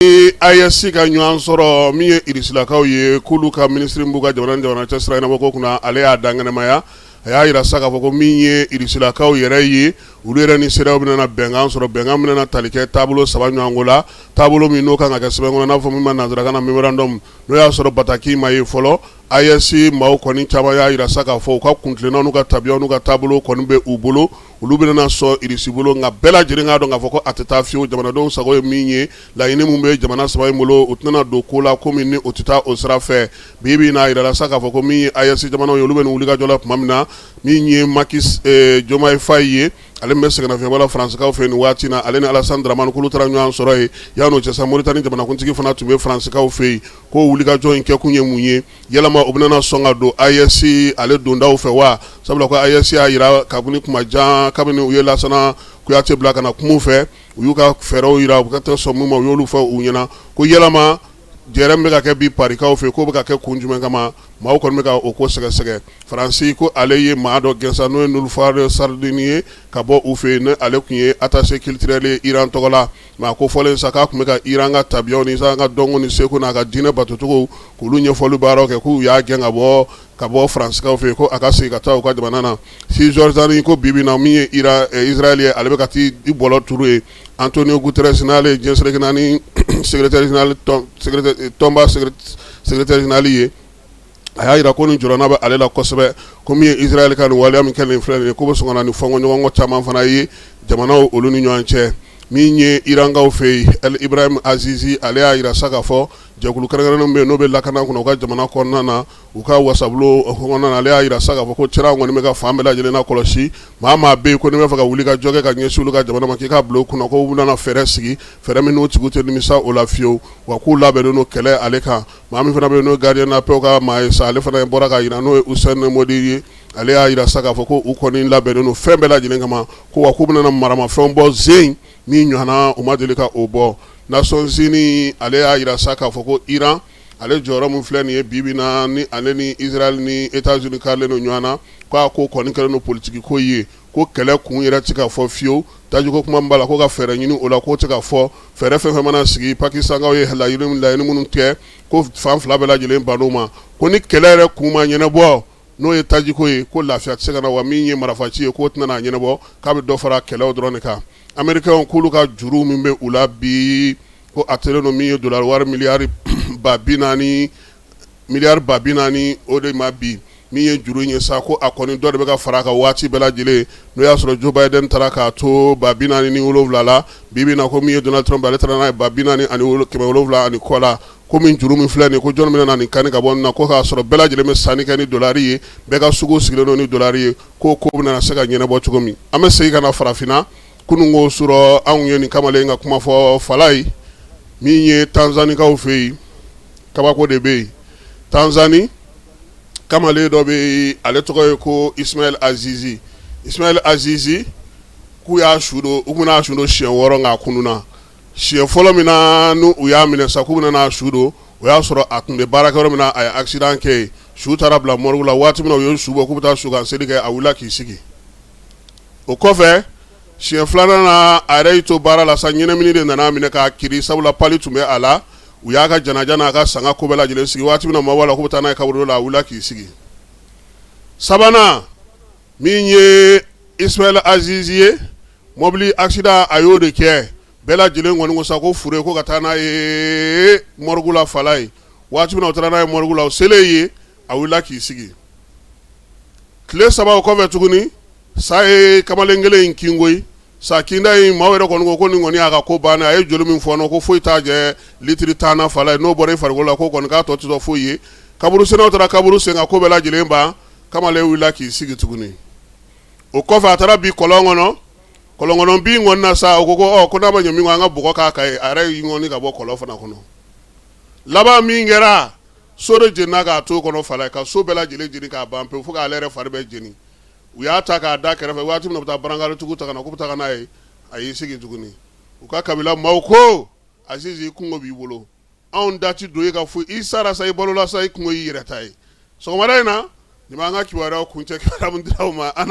Ee AES ka ɲɔgɔn sɔrɔ min ye irisilakaw ye k'olu ka minisiri b'u ka jamana jamana cɛ sira ɲɛnabɔko kunna ale y'a dankɛnɛmaya a y'a jira sa k'a fɔ ko min ye irisilakaw yɛrɛ ye olu yɛrɛ ni CEDEAO bɛna bɛnkan sɔrɔ bɛnkan bɛna tali kɛ taabolo saba ɲɔgɔnko la taabolo min n'o kan ka kɛ sɛbɛn kɔnɔ n'a fɔ min ma nansarakan na mémorandum n'o y'a sɔrɔ bataki ma ye fɔlɔ AES maaw kɔni caman y'a jira sa k'a fɔ u ka kuntilennaw n'u ka tabiyaw n'u ka taabolo kɔni bɛ u bolo olu bɛna sɔn irisi bolo nka bɛɛ lajɛlen k'a dɔn k'a fɔ ko a tɛ taa fiyewu jamanadenw sago ye min ye laɲini min bɛ jamana saba in bolo u tɛna don ko la ko min ni o tɛ taa o sira fɛ bi bi n'a jirala sa k'a fɔ ko min ye AES jamanaw ye olu bɛ nin wulikajɔ la tuma min na min ye Macky Diomaye Faye ye ale bɛ sɛgɛnnafiɲɛbɔ la Faransikaw fɛ nin waati na ale ni Alasan Dramani k'olu taara ɲɔgɔn sɔrɔ yen yan'o cɛ sa Moritani jamanakuntigi fana tun bɛ Faransikaw fɛ yen k'o wulikajɔ in kɛkun ye mun ye yalama u bɛna sɔn ka don AES ale dondaw fɛ wa sabula ko AES y'a jira kabini kuma jan kabini u ye Lansana Kuyate bila ka na kuma fɛ u y'u ka fɛɛrɛw jira u ka tɛ sɔn min ma u y'olu fɔ u ɲɛna ko yalama jɛrɛ min bɛ ka kɛ bi Parikaw fɛ k'o bɛ ka kɛ kun jumɛn kama maaw kɔni bɛ ka o ko sɛgɛsɛgɛ faransi ko ale ye maa dɔ gɛn sa n'o ye Nilufar Sardini ye ka bɔ u fɛ yen ale tun ye attaché culturel ye Iran tɔgɔ la Mais a ko fɔlen sa k'a tun bɛ ka Iran ka tabiyaw ni Iran ka dɔnko ni seko n'a ka diinɛ batocogow k'olu ɲɛfɔli baaraw kɛ k'u y'a gɛn ka bɔ ka bɔ Faransikaw fɛ yen ko a ka segin ka taa u ka jamana na Cisjordanie ko bi bi in na min ye Iran ɛ Israɛl ye ale bɛ ka t'i bɔlɔ turu yen Antonio Guterres n'ale ye diɲɛ seleke naani secrétaire général tɔnba secrétaire général ye a y'a jira ko nin jɔrɔna bɛ ale la kosɛbɛ ko min ye Israɛl ka nin waleya min kɛ nin filɛ nin ye k'o bɛ sɔn ka na ni fɔɲɔgɔnkɔ caman fana ye jamanaw olu ni ɲɔgɔn cɛ min ye Irankaw fɛ yen El Ibrahim Azizi ale y'a jira sa k'a fɔ jɛkulu kɛrɛnkɛrɛnnenw bɛ yen n'o bɛ lakana kunna u ka jamana kɔnɔna na u ka wasabulon kɔnɔna na ale y'a jira sa k'a fɔ ko Téhéran kɔni bɛ ka fan bɛɛ lajɛlen lakɔlɔsi maa o maa bɛ yen ko n'i b'a fɛ ka wulikajɔ kɛ ka ɲɛsin olu ka jamana ma k'i k'a bila u kunna k'u bɛna fɛɛrɛ sigi fɛɛrɛ min n'o tigiw tɛ nimisa o la fiyewu wa k'u labɛnnen don kɛlɛ ale kan Maa min fana bɛ n'o gardien de la paix ka maa ye sa ale fana bɔra k'a jira n'o ye Hussein Modi ye ale y'a jira sa k'a fɔ ko u kɔni labɛnnen don fɛn bɛɛ lajɛlen kama ko wa k'u bɛna maramafɛn bɔ ze in min ɲɔgɔnna u ma deli ka o bɔ Nations Unies ale y'a jira sa k'a fɔ ko iran ale jɔyɔrɔ min filɛ nin ye bibi na ni ale ni Israɛl ni États-Unis karilen don ɲɔgɔn na k'a ko kɔni kɛlen don politigi ko ye ko kɛlɛ kun yɛrɛ tɛ ka fɔ fiyewu tajiko kuma min b'a la ko ka fɛɛrɛ ɲini o la k'o tɛ ka fɔ fɛɛrɛ fɛn fɛn mana sigi Pakistankaw ye laɲini minnu kɛ ko fan fila bɛɛ lajɛlen bann'o ma ko ni kɛlɛ yɛrɛ kun ma ɲɛnabɔ n'o ye tajiko ye ko lafiya tɛ se ka na wa min ye marifa ci ye k'o tɛna a ɲɛnabɔ k'a bɛ dɔ fara kɛlɛw dɔrɔn de kan Américains k'olu ka juru min bɛ u la bi ko a taalen don min ye dollar wari miliyari ba bi naani miliyari ba bi naani o de ma bi min ye juru ye sa ko a kɔni dɔ de bɛ ka fara a kan waati bɛɛ lajɛlen n'o y'a sɔrɔ joe biden taara k'a to ba bi naani ni wolowula la bi bi in na ko min ye donald trump ale taara n'a ye ba bi naani ani wolo kɛmɛ wolowula ani kɔ la ko min juru min filɛ nin ye ko jɔn bɛna nin kan ka bɔ na ko k'a sɔrɔ bɛɛ lajɛlen bɛ sanni kɛ ni dɔlari ye bɛɛ ka sugu sigilen don ni dɔlari ye ko ko bɛna se ka ɲɛnabɔ cogo min an bɛ segin ka na farafinna kunun su rɔ anw ye nin kamalen ka kuma fɔ fala ye min ye tanzanikaw fɛ yen kabako de bɛ yen tanzani kamalen dɔ bɛ ale tɔgɔ ye ko ismail azizi ismail azizi k'u y'a su don u bɛna su don siɲɛ wɔɔrɔ k'a kununna siɲɛ fɔlɔ min na n'u y'a minɛ sa k'u bɛna su don o y'a sɔrɔ a tun bɛ baarakɛyɔrɔ min na a ye accident kɛ su taara bila morgue la waati min na u ye su bɔ k'u bɛ taa su kan seli kɛ a wulila k'i sigi o kɔfɛ Siɲɛ filanan na a yɛrɛ y'i to baara la sa ɲɛnamini de nana minɛ k'a kirin sabula pali tun bɛ a la u y'a ka janaja n'a ka sanga ko bɛɛ lajɛlen sigi waati min na maaw b'a la k'u bɛ taa n'a ye kaburudo la a wulila k'i sigi sabanan min ye ismail azizi ye mɔbili accident a y'o de kɛ bɛɛ lajɛlen kɔni ko sa ko fure ko ka taa n'a ye morgue la fala ye waati min na u taara n'a ye morgue la u selen yen a wulila k'i sigi tile saba o kɔfɛ tuguni sa ye kamalen kelen in kin koyi sa kinda in maaw yɛrɛ kɔni ko nin kɔni y'a ka ko ban a ye joli min fɔ ko foyi t'a jɛ litiri tan na fala ye n'o bɔra i fari la ko kɔni k'a tɔ tɛ foyi ye kaburusennaw taara kaburu sen ka ko bɛɛ lajɛlen ban kamalen wulila k'i sigi tuguni o kɔfɛ a taara bin kɔlɔn kɔnɔ kɔlɔn kɔnɔ bin kɔni na sa u ko ko n'a ma ɲɛ min kɔ an ka bɔgɔ k'a kan a yɛrɛ y'i ŋɔni ka bɔ kɔlɔn fana kɔnɔ laban min kɛra so de jenina k'a to kɔnɔ fala ye ka so bɛɛ lajɛlen jeni k'a ban pewu fo k'ale yɛrɛ fari bɛɛ jeni u y'a ta k'a da kɛrɛfɛ waati min na u bɛ taa barankaritigiw ta ka na k'u bɛ taa n'a ye a y'i sigi tuguni u ka kabila maaw ko azizi i kunko b'i bolo anw da ti don e ka foyi i sara sa i balola sa i kunko y'i yɛrɛ ta ye sɔgɔmada in na nin b'an ka kibaruya kuncɛ kibaruya min dira aw ma an